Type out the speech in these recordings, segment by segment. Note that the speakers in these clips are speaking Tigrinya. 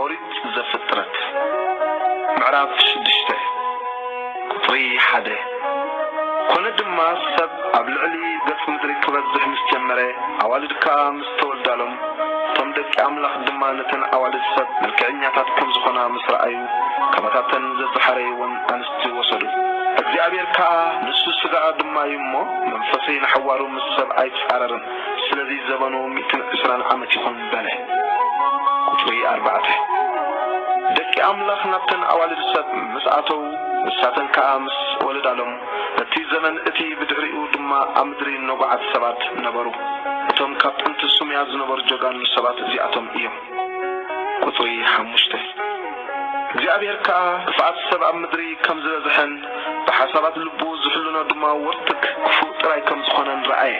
ኦሪት ዘፍጥረት ምዕራፍ ሽዱሽተ ቍጽሪ ሓደ ኰነ ድማ ሰብ ኣብ ልዕሊ ገጽ ምድሪ ኪበዝሕ ምስ ጀመረ፣ ኣዋልድ ከኣ ተወልዳሎም፣ እቶም ደቂ ኣምላኽ ድማ ነተን ኣዋልድ ሰብ መልክዐኛታት ከም ዝዀና ምስ ረኣዩ፣ ካባታተን ዘዝሓረይወን ኣንስቲ ወሰዱ። እግዚኣብሄር ከኣ፣ ንሱ ስጋኣ ድማ እዩ እሞ፣ መንፈሰይ ንሓዋሩ ምስ ሰብ ኣይጻረርን፣ ስለዚ ዘበኑ ሚእትን ዕስራን ዓመት ይኹን በለ። ቁጽሪ ኣርባዕተ፣ ደቂ ኣምላኽ ናብተን ኣዋልድ ሰብ ምስ ኣተዉ፣ ንሳተን ከኣ ምስ ወለዳሎም፣ እቲ ዘመን እቲ ብድሕሪኡ ድማ ኣብ ምድሪ ነጉዓት ሰባት ነበሩ። እቶም ካብ ጥንቲ ሱምያ ዝነበሩ ጀጋኑ ሰባት እዚኣቶም እዮም። ቍጽሪ ሓሙሽተ። እግዚኣብሄር ከኣ ክፍኣት ሰብ ኣብ ምድሪ ከም ዝበዝሐን ብሓሳባት ልቡ ዝሕልኖ ድማ ወርትግ ክፉእ ጥራይ ከም ዝዀነን ረኣየ።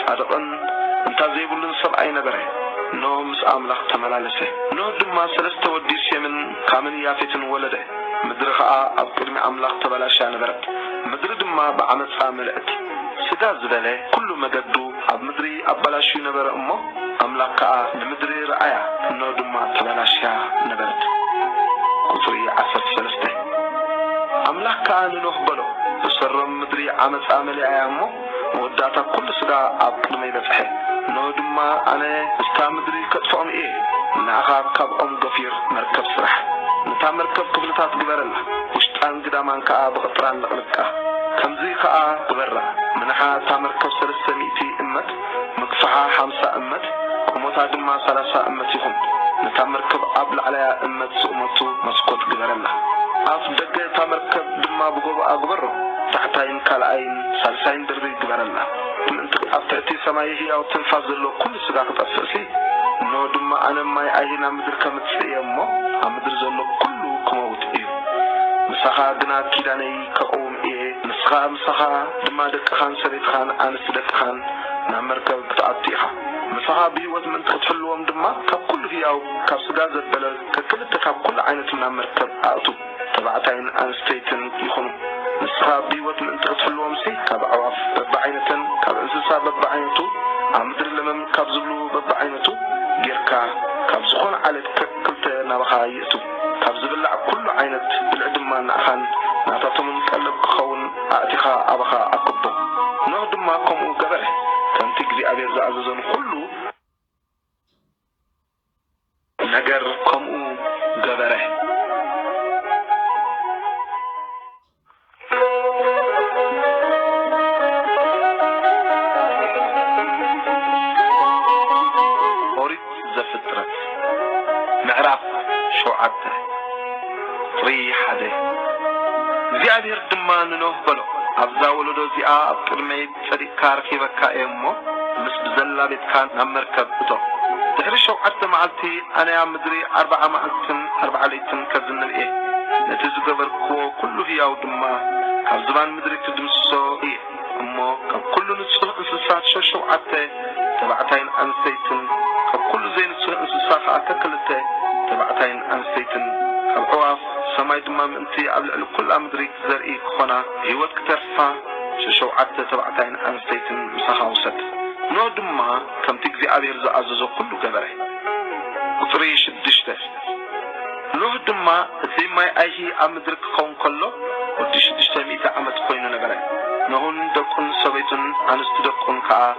ጻድቕን እንታ ዘይብሉን ሰብኣይ ነበረ። ኖህ ምስ ኣምላኽ ተመላለሰ። ኖህ ድማ ሰለስተ ወዲ ሴምን ካምን ያፌትን ወለደ። ምድሪ ኸኣ ኣብ ቅድሚ ኣምላኽ ተበላሽያ ነበረት፣ ምድሪ ድማ ብዓመጻ መልእት። ስጋ ዝበለ ኩሉ መገዱ ኣብ ምድሪ ኣበላሽዩ ነበረ እሞ፣ ኣምላኽ ከኣ ንምድሪ ረኣያ፣ እነሆ ድማ ተበላሽያ ነበረት። ቁጽሪ ዓሰርተ ሰለስተ። ኣምላኽ ከኣ ንኖህ በሎ፣ ብሰሮም ምድሪ ዓመጻ መሊኣያ እሞ፣ መወዳእታ ኵሉ ስጋ ኣብ ቅድመይ በጽሐ፣ እነሆ ድማ ኣነ ምስታ ምድሪ ከጥፍኦም እየ። ንኣኻ ካብኦም ገፊር መርከብ ስራሕ፣ ነታ መርከብ ክፍልታት ግበረላ፣ ውሽጣን ግዳማን ከኣ ብቕጥራን ለቕልቃ። ከምዚ ኸኣ ግበራ፣ ምናሓ እታ መርከብ ሰለስተ ሚእቲ እመት፣ ምግፋሓ ሓምሳ እመት፣ ቁመታ ድማ ሰላሳ እመት ይኹን። ነታ መርከብ ኣብ ላዕለያ እመት ዝእመቱ መስኮት ግበረላ። ኣፍ ደገ እታ መርከብ ድማ ብጐቦኣ ግበሮ፣ ታሕታይ። ካልኣይን ሳልሳይን ደርቢ ይግበረልና ምእንቲ ኣብ ትሕቲ ሰማይ ህያው ትንፋስ ዘለዎ ኩሉ ስጋ ክጠፍእሲ እንሆ ድማ ኣነ ማይ ኣይሂ ናብ ምድሪ ከምጽእ እየ እሞ ኣብ ምድሪ ዘሎ ኩሉ ክመውት እዩ ምሳኻ ግና ኪዳነይ ከቕውም እየ ንስኻ ምሳኻ ድማ ደቅኻን ሰበይትኻን ኣንስቲ ደቅኻን ናብ መርከብ ክትኣቱ ኢኻ ምሳኻ ብህይወት ምእንቲ ክትሕልዎም ድማ ካብ ኩሉ ህያው ካብ ስጋ ዘበለ ከክልተ ካብ ኩሉ ዓይነቱ ናብ መርከብ ኣእቱ። ተባዕታይን ኣንስተይትን ይኹኑ። ንስኻ ብህይወት ምእንቲ ክትሕልዎምሲ ካብ ኣዕዋፍ በብዓይነተን ካብ እንስሳ በብዓይነቱ ኣብ ምድሪ ለመም ካብ ዝብሉ በብዓይነቱ ጌርካ ካብ ዝኾነ ዓሌት ከክ ክልተ ናባኻ ይእቱ። ካብ ዝብላዕ ኩሉ ዓይነት ብልዒ ድማ ንኣኻን ናታቶምን ቀለብ ክኸውን ኣእቲኻ ኣባኻ ኣክቦ። ኖህ ድማ ከምኡ ገበረ፣ ከምቲ እግዚኣብሄር ዝኣዘዞ ንኹሉ። ነገር ከምኡ ገበረኦሪት ዘፍጥረት ምዕራፍ ሸውዓተ ቁፅሪ ሓደ እግዚኣብሄር ድማ ንኖህ በሎ፣ ኣብዛ ወለዶ እዚኣ ኣብ ቅድመይ ጸዲቕካ ኣረኪበካ እየ እሞ ምስ ብዘላ ቤትካ ናብ መርከብ እቶ። ድሕሪ ሸውዓተ መዓልቲ ኣነ ኣብ ምድሪ ኣርብዓ መዓልትን ኣርብዓ ለይትን ከዝንብ እየ፣ ነቲ ዝገበርክዎ ኵሉ ህያው ድማ ካብ ዝባን ምድሪ ክድምስሶ እየ። እሞ ካብ ኵሉ ንጹህ እንስሳ ሸሸውዓተ ተባዕታይን ኣንስተይትን፣ ካብ ኵሉ ዘይንጹህ እንስሳ ኸኣ ከክልተ ተባዕታይን ኣንስተይትን፣ ካብ ኣዕዋፍ ሰማይ ድማ ምእንቲ ኣብ ልዕሊ ኵላ ምድሪ ዘርኢ ክዀና፣ ብህይወት ክተርፋ፣ ሸውዓተ ተባዕታይን ኣንስተይትን ምሳኻ ውሰድ። ኖህ ድማ ከምቲ እግዚኣብሄር ዝኣዘዞ ዅሉ ገበረ። ቍጽሪ ሽዱሽተ፣ ኖህ ድማ እቲ ማይ ኣይሂ ኣብ ምድሪ ኪኸውን ከሎ ወዲ ሽዱሽተ ሚእቲ ዓመት ኰይኑ ነበረ። ኖህን ደቁን ሰበይቱን ኣንስቲ ደቁን ከኣ፣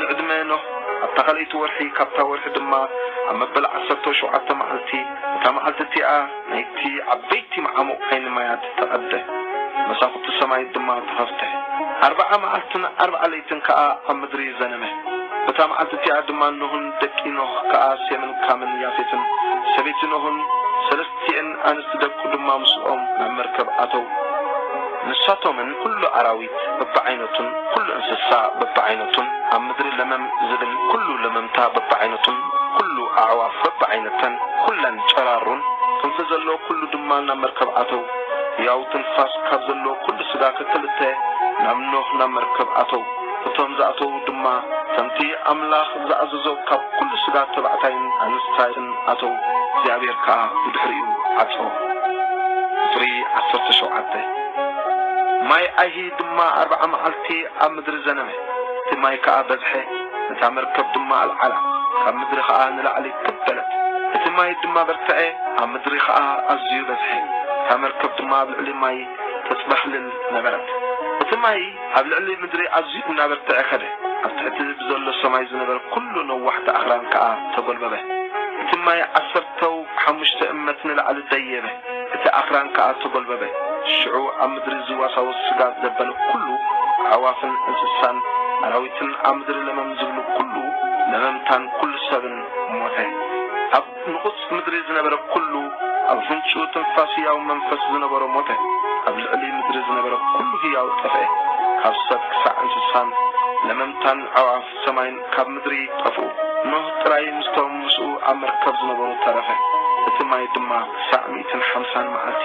ንዕድመ ኖህ ኣብታ ካልኣይቲ ወርሒ፣ ካብታ ወርሒ ድማ ኣብ መበል ዓሰርተው ሸውዓተ መዓልቲ፣ እታ መዓልቲ እቲኣ ናይቲ ዓበይቲ መዓሙቕ ዓይኒ ማያት ተቐደ፣ መሳዅቲ ሰማይት ድማ ተኸፍተ። ኣርብዓ መዓልትን ኣርብዓ ለይትን ከኣ ኣብ ምድሪ ዘነመ። በታ መዓልቲ እቲኣ ድማ ኖህን ደቂ ኖህ ከኣ ሴምን ካምን ያፌትን ሰበይቲ ኖህን ሰለስተ። እቲኤን ኣንስቲ ደቁ ድማ ምስኦም ናብ መርከብ ኣተዉ። ንሳቶምን ኵሉ ኣራዊት በብዓይነቱን ኵሉ እንስሳ በብዓይነቱን፣ ኣብ ምድሪ ለመም ዚብል ኵሉ ለመምታ በብዓይነቱን ኵሉ ኣዕዋፍ በብዓይነተን፣ ኵለን ጨራሩን፣ ክንፊ ዘለዎ ኵሉ ድማ ናብ መርከብ ኣተዉ። ህያው ትንፋስ ካብ ዘለዎ ኵሉ ስጋ ከክልተ ናብ ኖህ ናብ መርከብ ኣተዉ። እቶም ዝኣተዉ ድማ ከምቲ ኣምላኽ ዝኣዘዞ ካብ ኵሉ ስጋ ተባዕታይን ኣንስታይን ኣተዉ፣ እግዚኣብሄር ከኣ ብድሕሪኡ ዓጸዎ። ቍጽሪ ዓሰርተ ሸውዓተ። ማይ ኣይሂ ድማ ኣርብዓ መዓልቲ ኣብ ምድሪ ዘነመ፣ እቲ ማይ ከኣ በዝሐ፣ ነታ መርከብ ድማ ኣልዓላ፣ ካብ ምድሪ ኸኣ ንላዕሊ ክብ በለት። እቲ ማይ ድማ በርትዐ፣ ኣብ ምድሪ ኸኣ ኣዝዩ በዝሐ፣ እታ መርከብ ድማ ኣብ ልዕሊ ማይ ተጽበኽልል ነበረት። እቲ ማይ። ኣብ ልዕሊ ምድሪ ኣዝዩ እናበርትዐ ከደ፣ ኣብ ትሕቲ ብዘሎ ሰማይ ዝነበረ ኵሉ ነዋሕቲ ኣኽራን ከኣ ተጐልበበ። እቲ ማይ ዓሰርተው ሓሙሽተ እመት ንላዕሊ ደየበ፣ እቲ ኣኽራን ከኣ ተጐልበበ። ሽዑ ኣብ ምድሪ ዝዋሳወስ ስጋ ዘበለ ኵሉ፣ ኣዕዋፍን እንስሳን ኣራዊትን ኣብ ምድሪ ለመም ዝብሉ ኵሉ ለመምታን ኵሉ ሰብን ሞተ። ኣብ። ንቑጽ ምድሪ ዝነበረ ኩሉ ኣብ ኣፍንጭኡ ትንፋስ ህያው መንፈስ ዝነበሮ ሞተ ኣብ ልዕሊ ምድሪ ዝነበረ ኩሉ ህያው ጠፍኤ ካብ ሰብ ክሳዕ እንስሳን ለመምታን ኣዕዋፍ ሰማይን ካብ ምድሪ ጠፍኡ ኖህ ጥራይ ምስቶም ምስኡ ኣብ መርከብ ዝነበሩ ተረፈ እቲ ማይ ድማ ክሳዕ ሚእትን ሓምሳን መዓልቲ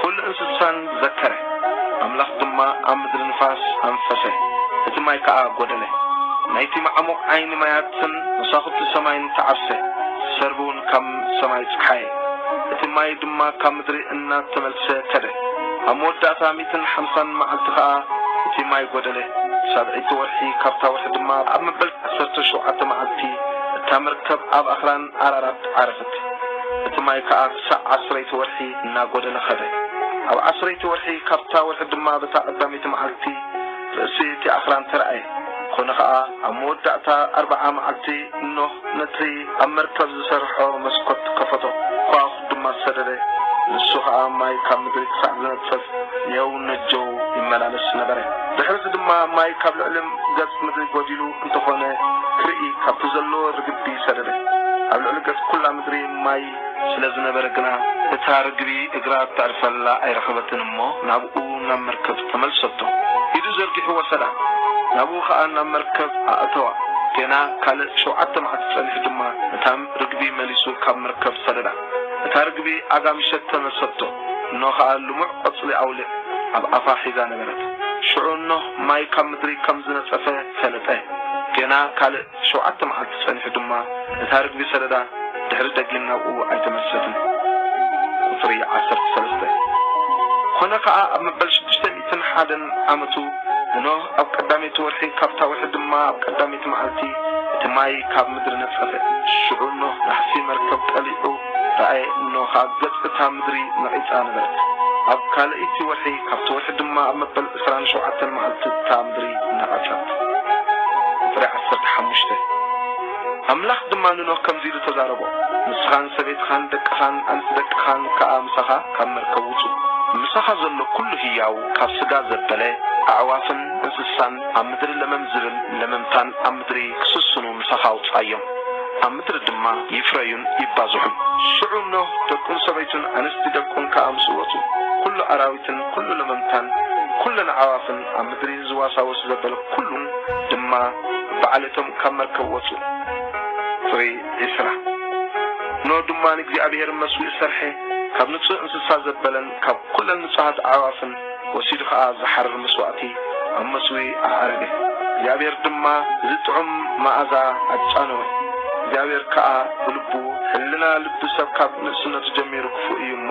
ኵሉ እንስሳን ዘከረ። ኣምላኽ ድማ ኣብ ምድሪ ንፋስ ኣንፈሰ፣ እቲ ማይ ከኣ ጐደለ። ናይቲ መዓሙቕ ዓይኒ ማያትን መሳዅቲ ሰማይን ተዓርሰ፣ ሰርብውን ካብ ሰማይ ጸሓየ። እቲ ማይ ድማ ካብ ምድሪ እናተመልሰ ከደ። ኣብ መወዳእታ ሚእትን ሓምሳን መዓልቲ ኸኣ እቲ ማይ ጐደለ፣ ሳብዐይቲ ወርሒ፣ ካብታ ወርሒ ድማ ኣብ መበል ዓሰርተ ሸውዓተ መዓልቲ እታ መርከብ ኣብ ኣኽራን ኣራራት ዓረፈት። እቲ ማይ ከኣ ክሳዕ ዓስረይቲ ወርሒ እናጐደለ ኸደ። ኣብ ዓስረይቲ ወርሒ ካብታ ወርሒ ድማ በታ ቐዳመይቲ መዓልቲ ርእሲ እቲ ኣኽራን ተራእየ። ኰነ ኸኣ፣ ኣብ መወዳእታ ኣርብዓ መዓልቲ ኖህ ነቲ ኣብ መርከብ ዝሰርሖ መስኰት ከፈቶ፣ ኳዅ ድማ ሰደደ፣ ንሱ ኸኣ ማይ ካብ ምድሪ ክሳዕ ዝነጽፍ ኔው ነጀው ይመላለስ ነበረ። ድሕርዚ ድማ ማይ ካብ ልዕሊ ገጽ ምድሪ ጐዲሉ፣ እንተኾነ ክርኢ ካብቲ ዘለዎ ርግቢ ሰደደ። ኣብ ልዕሊ ገጽ ኩላ ምድሪ ማይ ስለ ዝነበረ ግና እታ ርግቢ እግራ እተዕርፈላ ኣይረኸበትን እሞ ናብኡ ናብ መርከብ ተመልሰቶ። ኢዱ ዘርጊሑ ወሰዳ ናብኡ ከኣ ናብ መርከብ ኣእተዋ። ገና ካልእ ሸውዓተ መዓልቲ ጸኒሑ ድማ ነታ ርግቢ መሊሱ ካብ መርከብ ሰደዳ። እታ ርግቢ ኣጋምሸት ተመልሰቶ እኖ ከኣ ልሙዕ ቆጽሊ ኣውሊዕ ኣብ ኣፋ ሒዛ ነበረት። ሽዑ እኖ። ማይ ካብ ምድሪ ከም ዝነጸፈ ፈለጠ። ገና ካልእ ሸውዓተ መዓልቲ ጸኒሑ ድማ እታ ርግቢ ሰደዳ ድሕሪ ደጊም ናብኡ ኣይተመልሰትን። ቁጽሪ ዓሰርተ ሰለስተ። ኰነ ኸኣ ኣብ መበል ሽዱሽተ ሚእትን ሓደን ዓመቱ ንኖህ ኣብ ቀዳመይቲ ወርሒ ካብታ ወርሒ ድማ ኣብ ቀዳመይቲ መዓልቲ እቲ ማይ ካብ ምድሪ ነጸፈ። ሽዑ ኖህ ናሕሲ መርከብ ቀሊዑ ረኣየ እኖ ኸኣ ገጽ እታ ምድሪ ነቒጻ ነበረት። ኣብ ካልኣይቲ ወርሒ ካብቲ ወርሒ ድማ ኣብ መበል ዕስራን ሸውዓተን መዓልቲ እታ ምድሪ ነቐጸት። ቁጽሪ ዓሰርተ ሓሙሽተ። ኣምላኽ ድማ ንኖህ ከምዚ ኢሉ ተዛረቦ፣ ንስኻን ሰበይትኻን ደቅኻን ኣንስቲ ደቅኻን ከኣ ምሳኻ ካብ መርከብ ውጹ። ምሳኻ ዘሎ ኩሉ ህያው ካብ ስጋ ዘበለ፣ ኣዕዋፍን እንስሳን ኣብ ምድሪ ለመም ዝብል ለመምታን ኣብ ምድሪ ክስስኑ ምሳኻ ኣውጽኣዮም፣ ኣብ ምድሪ ድማ ይፍረዩን ይባዝሑን። ሽዑ ኖህ፣ ደቁን ሰበይቱን ኣንስቲ ደቁን ከኣ ምስኡ ወጹ፣ ኩሉ ኣራዊትን፣ ኩሉ ለመምታን ኩለን ኣዕዋፍን ኣብ ምድሪ ዝዋሳወስ ዘበለ ኩሉን ድማ ብዓሌቶም ካብ መርከብ ወጹ። ቁጽሪ ዕስራ ኖህ ድማ ንእግዚኣብሔር መስዊእ ሰርሐ፣ ካብ ንጹህ እንስሳ ዘበለን ካብ ኩለን ንጹሃት ኣዕዋፍን ወሲዱ ኸኣ ዝሓርር መስዋእቲ ኣብ መስዊ ኣዕረገ። እግዚኣብሔር ድማ እዚ ጥዑም መኣዛ ኣጫነወ። እግዚኣብሔር ከኣ ብልቡ፣ ሕልና ልቢ ሰብ ካብ ንእስነቱ ጀሚሩ ክፉእ እዩ እሞ፣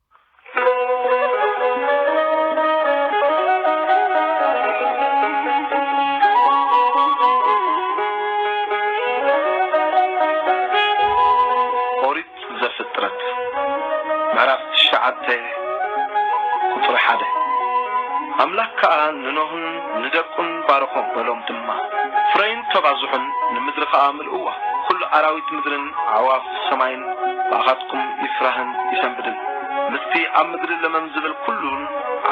ኦሪት ዘፍጥረት ምዕራፍ ትሽዓተ ቍጽሪ ሓደ ኣምላኽ ከኣ ንኖህን ንደቁን ባረኾም፣ በሎም ድማ ፍረይን ተባዝሑን ንምድሪ ከኣ እወ፣ ዅሉ ኣራዊት ምድርን ኣዕዋፍ ሰማይን ብኣኻትኩም ይፍራህን ይሰንብድን። ምስቲ ኣብ ምድሪ ለመም ዚብል ኵሉን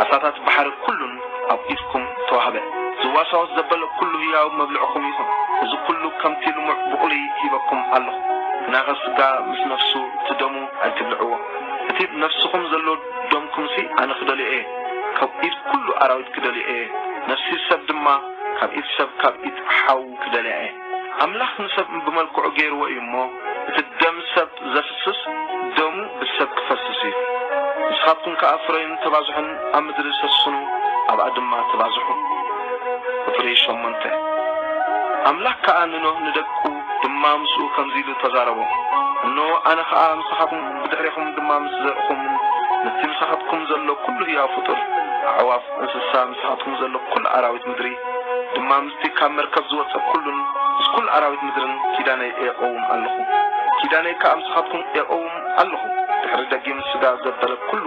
ዓሳታት ባሕሪ ኵሉን ኣብ ኢድኩም ተዋህበ። ዚዋሳወስ ዘበለ ኵሉ ህያው መብልዕኹም ይኹን። እዚ ኵሉ ከምቲ ልሙዕ ብቝሊ ሂበኩም ኣሎኹ። ግናኸ ስጋ ምስ ነፍሱ፣ እቲ ደሙ ኣይትብልዕዎ። እቲ ኣብ ነፍስኹም ዘሎ ደምኩምሲ ኣነ ክደልዮ እየ፣ ካብ ኢድ ኵሉ ኣራዊት ክደልዮ እየ፣ ነፍሲ ሰብ ድማ ካብ ኢድ ሰብ ካብ ኢድ ሓው ክደልያ እየ። ኣምላኽ ንሰብ ብመልክዑ ገይርዎ እዩ እሞ እቲ ደም ሰብ ዘፍስስ ደሙ ብሰብ ክፈስስ እዩ። ንስኻትኩም ከኣ ፍረዩን ተባዝሑን ኣብ ምድሪ ሰስኑ ኣብኣ ድማ ተባዝሑ። ቁጽሪ ሸሞንተ፣ ኣምላኽ ከኣ ንኖህ ንደቁ ድማ ምስኡ ከምዚ ኢሉ ተዛረቦም፣ እንሆ ኣነ ኸኣ ምሳኻትኩም ብድሕሬኹም ድማ ምስ ዘርእኹምን ምስቲ ምሳኻትኩም ዘሎ ኩሉ ህያው ፍጡር ኣዕዋፍ እንስሳ ምሳኻትኩም ዘሎ ኩሉ ኣራዊት ምድሪ ድማ እቲ ካብ መርከብ ዝወጸ ኩሉን ምስ ኩሉ ኣራዊት ምድርን ኪዳነይ ኤቀውም ኣሎኹ፣ ኪዳነይ ከኣ ምሳኻትኩም ኤቀውም ኣሎኹ፣ ድሕሪ ደጊም ስጋ ዘበለ ኩሉ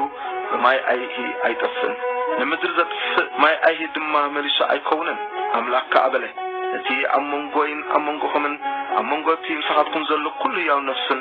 ብማይ ኣይሂ ኣይጠፍእን፣ ንምድሪ ዘጥፍእ ማይ ኣይሂ ድማ መሊሱ ኣይከውንን። ኣምላኽ ከኣ በለ፣ እቲ ኣብ መንጎይን ኣብ መንጎኹምን ኣብ መንጎ እቲ ምሳኻትኩም ዘሎ ኩሉ ህያው ነፍስን፣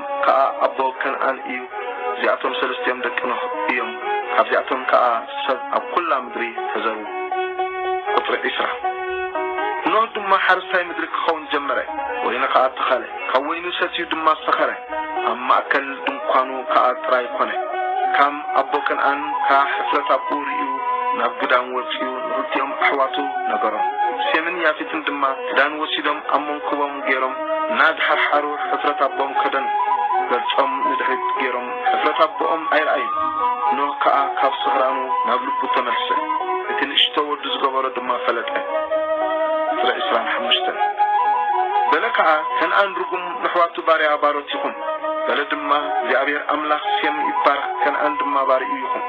ከኣ ኣቦ ከንኣን እዩ፣ እዚኣቶም ሰልስቲኦም ደቂ ኖህ እዮም፣ ካብዚኣቶም ከኣ ሰብ ኣብ ኩላ ምድሪ ተዘሩ። ቁጽሪ ዕስራ። ኖህ ድማ ሓረስታይ ምድሪ ክኸውን ጀመረ፣ ወይኒ ከኣ ተኸለ፣ ካብ ወይኑ ሰትዩ ድማ ሰኸረ፣ ኣብ ማእከል ድንኳኑ ከኣ ጥራይ ኮነ። ካም ኣቦ ከንኣን ከኣ ሕፍረት ኣብኡ ርእዩ ናብ ግዳም ወጺኡ ንክልቲኦም ኣሕዋቱ ነገሮም፣ ሴምን ያፌትን ድማ ክዳን ወሲዶም ኣብ መንኩቦም ገይሮም እናዝሓርሓሩ ሕፍረት ኣቦኦም ከደኑ። ገጾም ንድሕሪት ገይሮም ሕፍረት ኣቦኦም ኣይረኣዩን። ኖህ ከኣ ካብ ስኽራኑ ናብ ልቡ ተመልሰ። እቲ ንእሽቶ ወዱ ዝገበሮ ድማ ፈለጠ። ዕስራ ዕስራን ሓሙሽተን። በለ ከኣ ከንኣን ርጉም ነሕዋቱ ባርያ ባሮት ይኹን። በለ ድማ እግዚኣብሔር ኣምላኽ ሴም ይባረኽ ከንኣን ድማ ባርይኡ ይኹን።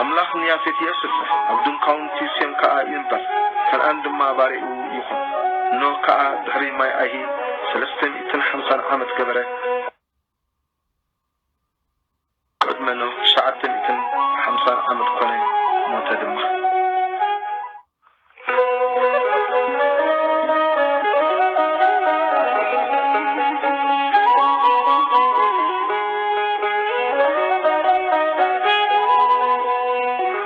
ኣምላኽ ንያፌት የስፍሕ ኣብ ድንኳውንቲ ሴም ከኣ ይንበር ከንኣን ድማ ባርይኡ ይኹን። ኖህ ከኣ ድሕሪ ማይ ኣይሂ ሰለስተ ሚእትን ሓምሳን ዓመት ገበረ። ቅድመ ኖህ ትሽዓተ ሚእትን ሓምሳን ዓመት ኮነ፣ ሞተ ድማ።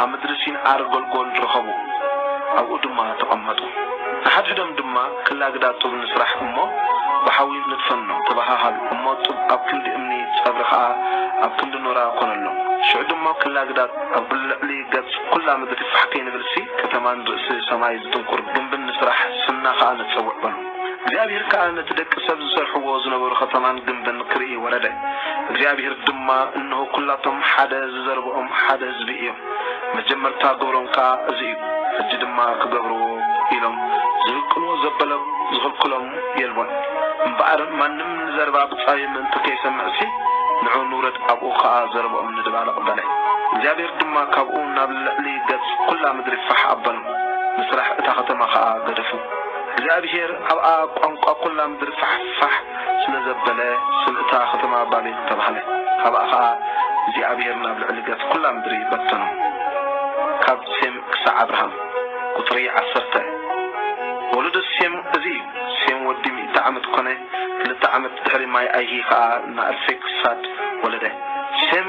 ኣብ ምድሪ ሲን ዓር ጐልጐል ረኸቡ፣ ኣብኡ ድማ ተቐመጡ። ንሓድሕዶም ድማ፣ ክላግዳ ጡብ ንስራሕ እሞ ብሓዊ ንድፈኖ፣ ተበሃሃሉ። እሞ ጡብ ኣብ ክንዲ እምኒ፣ ጸብሪ ኸኣ ኣብ ክንዲ ኖራ ኰነሎም። ሽዑ ድሞ ክላግዳ ኣብ ልዕሊ ገጽ ኵላ ምድሪ ፋሕ ከይንብልሲ፣ ከተማን ርእሲ ሰማይ ዝጥንቍር ግምብን ንስራሕ፣ ስምና ኸኣ ነጸውዕ በሉ። እግዚኣብሄር ከኣ ነቲ ደቂ ሰብ ዝሰርሕዎ ዝነበሩ ኸተማን ግምብን ክርኢ ወረደ። እግዚኣብሄር ድማ፣ እንሆ፣ ኵላቶም ሓደ ዝዘርብኦም ሓደ ህዝቢ እዮም፣ መጀመርታ ግብሮም ከኣ እዚ እዩ፣ ሕጂ ድማ ክገብርዎ ኢሎም ዝህቅንዎ ዘበሎም ዝኽልክሎም የልቦን። እምበኣር ማንም ንዘረባ ብጻዩ ምእንቲ ከይሰምዕሲ፣ ንዑ ንውረድ ኣብኡ ኸኣ ዘረብኦም ንድባልቕ በለ። እግዚኣብሄር ድማ ካብኡ ናብ ልዕሊ ገጽ ኵላ ምድሪ ፋሕ ኣበሎም፣ ንስራሕ እታ ኸተማ ኸኣ ገደፉ። እግዚኣብሄር ኣብኣ ቋንቋ ኵላ ምድሪ ፋሕፋሕ ስለ ዘበለ፣ ስም እታ ኸተማ ባቤል ተባህለ። ኻብኣ ኸኣ እግዚኣብሄር ናብ ልዕሊ ገጽ ኵላ ምድሪ በተኖም። ካብ ሴም ክሳዕ ኣብርሃም። ቍጽሪ ዓሰርተ። ወለዶ ሴም እዚ እዩ። ሴም ወዲ ሚእቲ ዓመት ኰነ፣ ክልተ ዓመት ድሕሪ ማይኣይሂ ኸኣ ንኣርፌክሳድ ወለደ። ሴም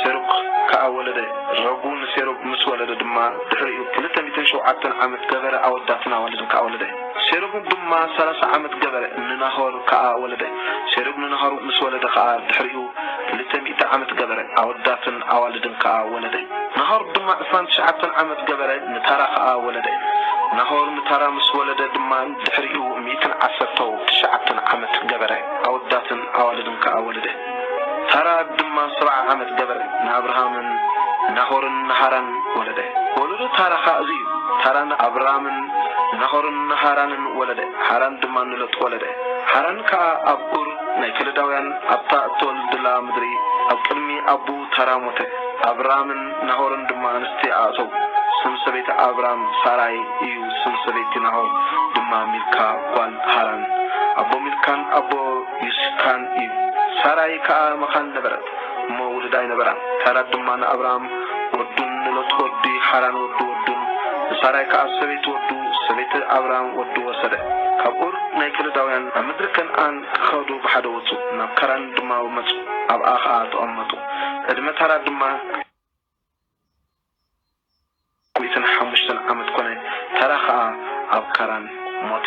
ሴሩግ ከኣ ወለደ። ረጉ ንሴሩግ ምስ ወለደ ድማ ድሕሪኡ ክልተ ሚእትን ሸውዓተን ዓመት ገበረ፣ ኣወዳትን ኣዋልድን ከኣ ወለደ። ሴሩግ ድማ ሰላሳ ዓመት ገበረ፣ ንናሆር ከኣ ወለደ። ሴሩግ ንናሆር ምስ ወለደ ኸኣ ድሕሪኡ ክልተ ሚእቲ ዓመት ገበረ፣ ኣወዳትን ኣዋልድን ከኣ ወለደ። ናሆር ድማ ዕስራን ትሽዓተን ዓመት ገበረ፣ ንታራ ኸኣ ወለደ። ናሆር ንታራ ምስ ወለደ ድማ ድሕሪኡ ሚእትን ዓሰርተው ትሽዓተን ዓመት ገበረ፣ ኣወዳትን ኣዋልድን ከኣ ወለደ። ታራ ድማ ሰብዓ ዓመት ገበረ፣ ንኣብርሃምን ናሆርን ንሃራን ወለደ። ወለዶ ታራ ኸኣ እዚ እዩ፣ ታራ ንኣብራምን ናሆርን ንሃራንን ወለደ፣ ሃራን ድማ ንሎጥ ወለደ። ሃራን ከኣ ኣብ ኡር ናይ ከለዳውያን ኣብታ እተወልድላ ምድሪ ኣብ ቅድሚ ኣቦኡ ታራ ሞተ፣ ኣብራምን ናሆርን ድማ ኣንስቲ ኣእተዉ፣ ስም ሰበይቲ ኣብራም ሳራይ እዩ፣ ስም ሰበይቲ ናሆር ድማ ሚልካ ጓል ሃራን፣ ኣቦ ሚልካን ኣቦ። ይስካን እዩ። ሳራይ ከኣ መኻን ነበረት እሞ ውሉድ ኣይነበራን። ሳራ ድማ ንኣብራም ወዱን ንሎጥ ወዲ ሓራን ወዲ ወዱን፣ ንሳራይ ከኣ ሰበይቲ ወዱ፣ ሰበይቲ ኣብራም ወዱ ወሰደ። ካብ ኡር ናይ ከለዳውያን ናብ ምድሪ ከንኣን ክኸዱ ብሓደ ወጹ፣ ናብ ካራን ድማ መጹ፣ ኣብኣ ኸኣ ተቐመጡ። ዕድመ ታራ ድማ። ዓመትን ሓሙሽተን ዓመት ኮነ ተራ ከኣ ኣብ ካራን ሞተ።